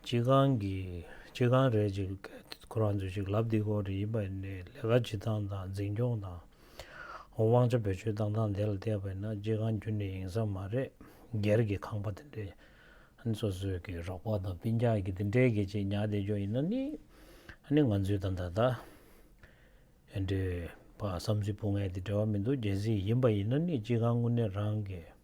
སྤྱི་ཁང་གིས་སྤྱི་ཁང་རེ་གཅིག་ཁོ་རང་ཚོས་ཅིག་ལབ་འདི་སྐོར་རེ་ཡིན་པ་ནས་ལས་ཀ་བྱེད་སྟངས་དང་འཛིན་སྐྱོང་དང། དབང་ཆ་བེད་སྤྱོད་གཏང་སྟངས་དེ་ལ་བལྟས་པས་ན་སྤྱི་ཁང་རྒྱུན་ནས་ཡིན་ས་མ་རེད་སྒེར་གྱི་ཁང་པ་དེ་འདྲའི་སོ་སོས་ཀྱི་རོགས་པ་དང་ལྤིན་རྒྱག་གི་དེ་འདྲའི་གི་ཅིག་ཉག་བསྡད་རྒྱུ་ཡིན་ན་ནི་ཨ་ནི་ང་ཚོའི་ད་ད་ད་འདྲའི་བསམ་ཚུལ་སྤུ་ངས་དེ་འདྲ་བ་མི་འདུག་རྒྱལ་སྲིད་ཡིན་པ་ཡིན་ན་ནི་སྤྱི་ཁང་དངོས་གནས་རང་གི།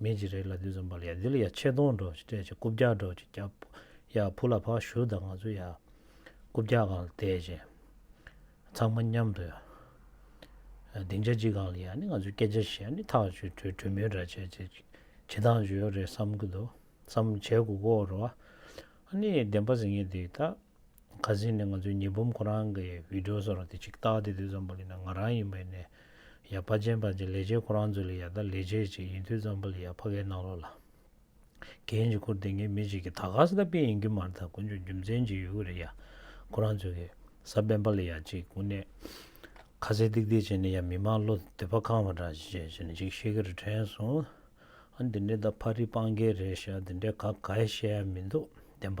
མི་རྗེ་རེ་ལ་དུས་ཙམ་པར་ཡ་འདི་ལ་ཡ་ཆེ་མཐོང་སྒྲོག་ཅིག་སྤྲད་ཅིག་རྐུབ་བཀྱག་སྒྲོག་ཅིག་བཀྱག། ཡ་བུ་ལ་ཕག་ཞུ་དང་ང་ཚོ་ཡ། རྐུབ་བཀྱག་གང་ལ་བལྟས་བྱས། ཚང་མ་མཉམ་དུ་ཡ། སྡིངས་ཆ་གཅིག་གང་ལ་ཡ་ནི་ང་ཚོའི་སྐད་ཆ་བཤད་ཡ་ནི་ཐག་ཆོད་གྲོས་གྲོས་མོལ་འདྲ་བྱས་བྱས་ཅིག་བྱེད་སྟངས་བྱོས་རེད་བསམ་གྱི་འདུག་བསམ་བྱས་གུག་གོ་རོ། ཨ་ནི་བདེན་པ་ཟེར་མཁན་དེ་དག་ཁ་ཟས་ནི་ང་ཚོའི་ཉི་འབུམ་ཁོ་རང་གི་བིད་འགྲོ་ཟེར་བ་དེ་ཅིག་བཏགས་ཏེ་དུས་ཙམ་པོ་ལི་ན་ང་རང་ཡིན་པའི་ནས་ཡ་ཕ་ཅན་པ་ཅིག་ལས་བྱེད་ཁོ་རང་ཚོ་ལས་ཡ་ད་ལས་བྱེད་ཅིག་ཡིན་དུས་ཙམ་པོ་ལི་ཡ་ཕ་གའི་ནང་ལོག་ལ་གན་ཅིག་ཁུར་དེ་ངའི་མི་ཅིག་གིས་ད་ག་ས་ད་པེ་ཡིན་རྒྱུ་མ་རེད་ད་དཀོན་མཆོག་རྒྱུ་མཚན་ཅིག་ཡོད་གི་རེད་ཡ་ཁོ་རང་ཚོས་གི་ས་སྦན་པ་ལི་ཡ་ཅིག་དགུ་ནས་ཁ་ཟས་ཏིག་ཏིག་བྱས་ནས་ཡ་མི་མང་བློ་འདོད་པ་ཁང་བ་འདྲ་ཅིག་བྱས་ནས་ཅིག་བཤད་གི་རེད་དྲན་སོང། ཨ་འདི་འདྲའི་ད་ཕ་རི་སྤང་རྒྱལ་རེད་ཤ་འདི་འདྲའི་ག་ག་ཡ་བཤད་ཡ་མི་འདུག་བདེན་པ་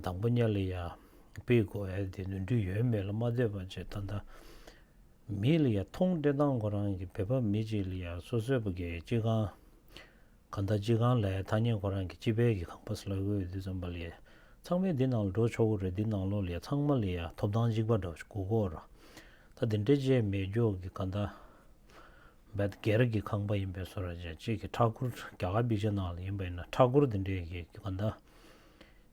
དང་པོ་གཉའ་ལི་ཡ་པི་དགོ་ཨེ་དེ་ནུས་འདུས་ཡོད་མེད་ལ་མ་ལྟོས་པ་ཇེ་ད་ད་མི་ལི་ཡ་མཐོང་འདྲེ་སྟང་ཁོ་རང་གི་བོད་པ་མི་གཅིག་ལི་ཡ་སོ་སོའི་བ་གའི་སྤྱི་ཁང་ག་ད་སྤྱི་ཁང་ལའི་ཐ་སྙད་ཁོ་རང་གི་སྤྱི་བལ་གི་ཁང་པ་སི་ལ་གོའི་དུས་ཙམ་པ་ལི་ཡ་ཚང་མའི་འདི་ནང་ལ་འགྲོ་ཆོག་གོ་རེད་འདི་ནང་ལོག་ལི་ཡ་ཚང་མ་ལི་ཡ་ཐོབ་ཐང་གཅིག་པ་འདྲ་གུ་གོ་ར་ད་འདི་འདྲའི་ཇེ་མེད་མགྱོགས་གི་ག་ད་བད་སྒེར་གྱི་ཁང་པ་ཡིན་པའི་སོ་ར་ཅན་གཅིག་གི་ཕྲག་གུར་རྒྱ་གར་སྦིར་ཇི་ནང་ལ་ཡིན་པ་ཡིན་ན་ཕྲག་གུར་དེ་འདྲའི་གི་གི་ག་ནྡ་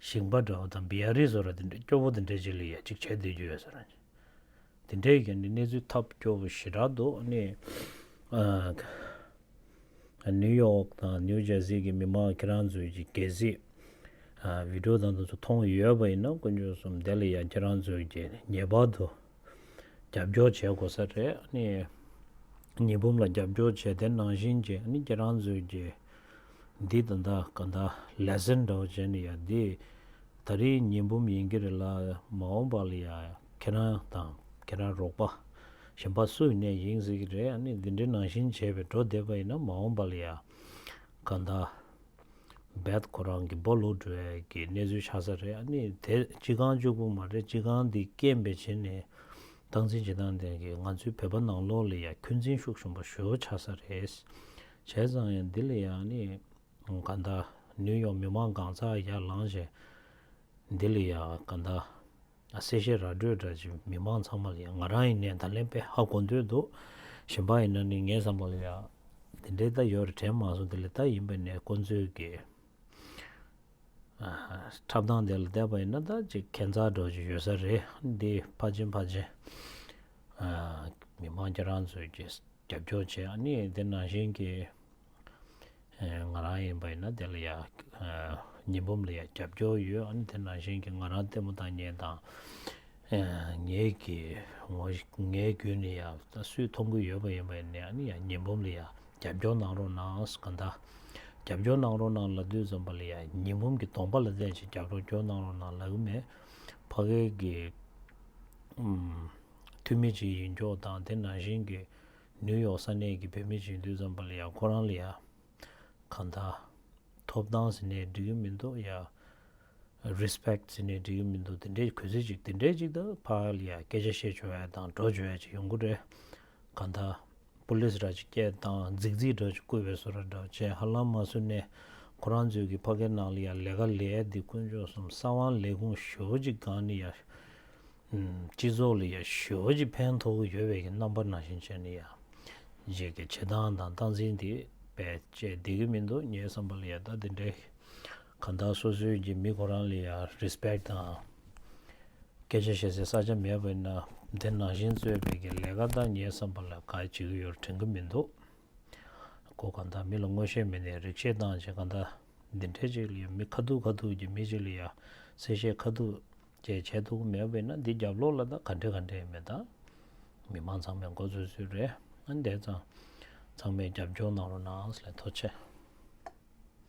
ཞིང་པ་འདྲ་བོ་དང་བི་ཡ་རི་སོ་ར་དེ་འདྲའི་སྐྱོ་བོ་དེ་འདྲའི་གཅིག་ལ་ཡ་གཅིག་བྱེད་སྡོད་རྒྱུ་ཡོད་སོ་ར་ཅན་དེ་འདྲའི་གི་ནི་གནས་ཚུལ་ཐབས་སྐྱོ་བོ་ཞི་དྲག་འདུག་ནི་ནིའུ་ཡོག་དང་ནིའུ་ཇར་སི་གི་མི་མང་ཁྱེད་རང་ཚོའི་གི་གལ་སྲིད་བི་ཏྲོ་དང་དུ་ཚོ་མཐོང་ཡོད་པ་ཡིན་ན་དཀོན་མཆོག་གསུམ་བདེ་ལ་ཡ་ཁྱེད་རང་ཚོའི་གི་ངེས་པར་དུ། རྒྱབ་སྐྱོར་བྱེད་དགོས་ས་རེད། ཉི་འབུམ་ལ་རྒྱབ་སྐྱོར་བྱས་ཏེ་ནང་བཞིན་གྱི་ཁྱེད་རང་ཚོས་ཀྱི་འདི་དང་འདའ་ག་འདའ་ལས་ཟེར་འདྲ་བོ་བྱས་ནས་ཡ་འདི་ད་རིང་ཉི་འབུམ་ཡིན་གྱི་རེད་ལ་མ་འོངས་པ་ལ་ཡ་ཁྱེད་རང་དང་ཁྱེད་རང་རོགས་པ་གཞན་པ་སུ་ཡིན་ནས་ཡིན་ཟེར་གྱི་རེད་འདི་འདྲའི་ནང་བཞིན་བྱས་པས་འགྲོ་བསྡད་པ་ཡིན་ན་མ་འོངས་པ་ལ་ཡ་ག་འདའ། རྦད་ཁོ་རང་གི་སྦོ་ལུག་འགྲོ་ཡས་ཀྱི་གནས་ཚུལ་ཆགས་ས་རེད་ཨ་ནི་དེ་སྤྱི་ཁང་བཅུག་པོ་མ་རེད་སྤྱི་ཁང་འདི་སྐྱེན་པའི་བྱེད་ནས་སྟངས་འཛིན་བྱེད་སྟངས་དེ་གི་ང་ཚོའི་བོད་པ་ནང་ལོག་ལ་ཡ་ཁྱོད་འཛིན་ཤུགས་ཞུམ་པ་ཞོ་ཆགས་ས་རེད་བྱས་ཙང་ཡང་འདི་ལ་ཡ་ཨ་ནི་ག་འདའ་ནུའི་ཡོག་མི་མང་གང་ཚགས་ཡ་ལངས་བྱས་འདི་ལ་ཡ་ག་འདའ། གསལ་བཤད་ར་སྤྲོད་དྲ་ཕྱི་མི་མང་ཚང་མ་ལ་ང་རང་ཡིན་ནས་ད་ལན་པེ་ཧ་གོ་འདོད་འདུག་གཞན་པ་ཡིན་ན་ནི་ངས་བསམ་པ་ལ་ཡང་དེ་འདྲའི་རྟ་ཡོད་རེད་དྲན་མ་སོང་དེ་ལས་རྟ་ཡིན་པ་ནས་དཀོན་ཚོད་ཀྱི་འཁྲབ་སྟངས་དེ་ལ་བལྟས་པ་ཡིན་ན་ད་ཅིག་ཁེ་མཚར་སྒྲོག་བཞིན་ཡོད་ས་རེད་འདི་ཕ་ཆེན་ཕ་ཆེན་མི་མང་ཁྱེད་རང་ཚོས་ཀྱི། རྒྱབ་སྐྱོར་བྱེད་ཡ་ནི་དེ་ནང་བཞིན་གྱི་ང་རང་ཡིན་པ་ཡིན་ན་དེ་ལ་ཡ་ཉི་འབུམ་ལ་ཡ་རྒྱབ་སྐྱོར་ཡོད་ཨ་ནི་དེ་ནང་བཞིན་གྱི་ང་རང་ལྟད་མོ་དང་ཉན་དང་ངའི་གི་ངོ་ངའི་རྒྱུད་ནས་ཡ་སུས་མཐོང་གི་ཡོད་པ་ཡིན་པ་ཡིན་ནའི་ཨ་ནི་ཡ་ཉི་འབུམ་ལ་ཡ་རྒྱབ་སྐྱོར་གནང་རོགས་གནང་ག་འདྲ་རྒྱབ་སྐྱོར་གནང་རོགས་གནང་ལ་དུས་ཙམ་པ་ལ་ཡ་ཉི་འབུམ་གྱི་གདོང་པ་ལ་བལྟས་ཤིག་རྒྱབ་རོགས་སྐྱོར་གནང་རོགས་གནང་ལ་གི་མེད་ཕ་གའི་གི་འཐུས་མི་གཅིག་ཡིན་མགྱོགས་དང་དེ་ནང་བཞིན་གྱི་ནིའུ་ཡོག་ས་གནས་ཀྱི་བོད་མི་གཅིག་འདུས་ཙམ་པ་ལ་ཡང་ཁོ་རང་ལ་ཡ། གང་ད། ཐོབ་ཐང་ཟེར་ནས་འབྲི་གི་མི་འདུག་ཡ། Respect ཟེར་ནས་འབྲི་གི་མི་འདུག་དེ་འདྲའི་གུས་བརྩི་ཅིག་དེ་འདྲའི་ཅིག་ད་ཕ་ལ་ཡ་སྐད་ཆ་བཤད་བྱོ་ཨེ་དང་འགྲོ་བྱོ་ཨེ་ཅིག་ཡོང་གི་རེད། གང་ད། Police ར་ཅིག་སྐྱེལ་དང་རྫིག་རྫིག་འདྲ་ཅིག་བསྐུལ་བས་སུ་ར་འདྲ་བྱས་ཧ་ལམ་མ་སུ་ནས་ཁོ་རང་ཚོའི་གི་ཕ་གའི་ནང་ལ་ཡ་ལས་ཀ་ལས་འདི་དཀོན་མཆོག་གསུམ་ས་དབང་ལས་ཁུངས་ཞོ་ཅིག་གང་ནི་ཡ། སྤྱི་ཚོགས་ལ་ཡང་ཞོལ་གྱི་ཕན་ཐོགས་ཀྱི་ཡོད་པའི་རྣམ་པ་ནང་བཞིན་བྱས་ནས་ཡང་བྱེད་ཀྱི་བྱེད་སྟངས་དང་སྟངས་འཛིན་དེ་བས་སྤྱད་བསྡད་ཀྱི་མི་འདུག་ངའི་བསམ་པ་ལ་ཡང་ད་དེ་འདྲའི་གང་དག་སོ་སོའི་གྱི་མི་ཁོ་རང་ལ་ཡང Respect དང་སྐད་ཆ་བཤད་སའི་ས་ཆ་མེད་པ་ན་དེ་ནང་བཞིན་རྩོད་པའི་གྱི་ལས་ཀ་དག་ངའི་བསམ་པ་ལ་ག་བྱེད་ཀྱི་ཡོད་དྲན་གྱི་མི་འདུག་གོ་གང་དག་མི་ལ་ངོ་ཤེས་མེད་ནས་རིག་བྱེད་སྟངས་བྱེད་གང་དག་འདི་འདྲའི་ཅིག་ལ་ཡང་མི་ཁ་ཐུག་ཁ་ཐུག་གྱི་མི་ཅིག་ལ་ཡང་གསལ་བཤད་ཁ་ཐུག་ཅེས་བྱས་འདུག་མེད་བས་ན་འདི་རྒྱབ་ལོག་ལ་དང་ག་འདྲེ་ག་འདྲེ་མེད་དམ། མི་དམངས་ཚང་མས་མགོ་འཚོས་ཚོད་རེད། འདས་ཙང། ཚང་མས་རྒྱབ་སྐྱོར་གནང་རོགས་གནང་ཨང་ལས་མཐོ་ཆེ།